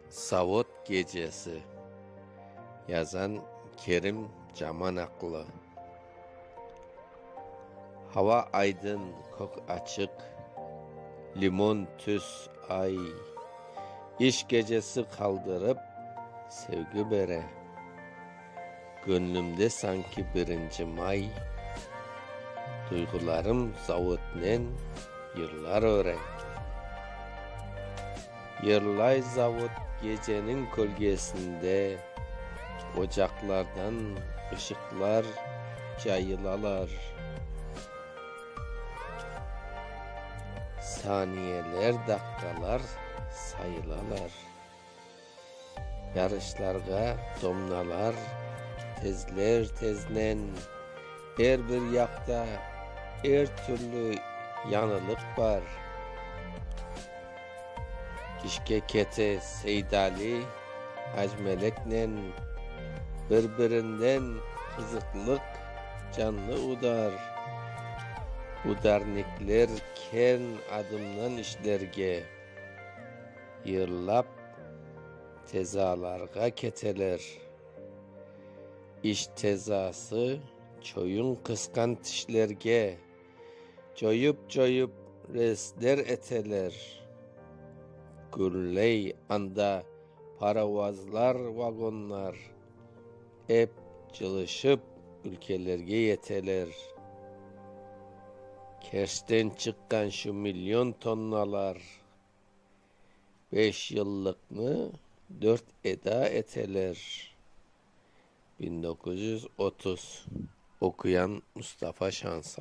Savut gecesi, yazan Kerim Camanaqlı. Hava aydın, kök açıq, limon tüs, ay. İş gecesi qaldırıp, sevgi bere. Köñlümde sanki birinci may, Duyğularım zavodnen yırlar örendi. Yırlay zavod geceniñ kölgesinde, Ocaqlardan ışıqlar cayılalar. Saniyeler daqqalar sayılalar. Yarışlarğa domnalar tezler-teznen, er bir yaqta er türlü yañılıq bar. İşke kete Seydali Ajmeleknen bir-birinden qızıqlıq canlı udar. Udarnikler kern adımnan işlerge. Yırlap tezalarğa keteler. İş tezası çoyun qısqan tişlerge, coyıp-coyıp resler eteler. Gürley anda paravozlar, vagonlar, ep cılışıp ülkelerge yeteler. Kerçten çıqqan şu million tonnalar. Beş yıllıqnı dört eda eteler. Biñ doquz yüz otuz, oquyan Mustafa Şansa.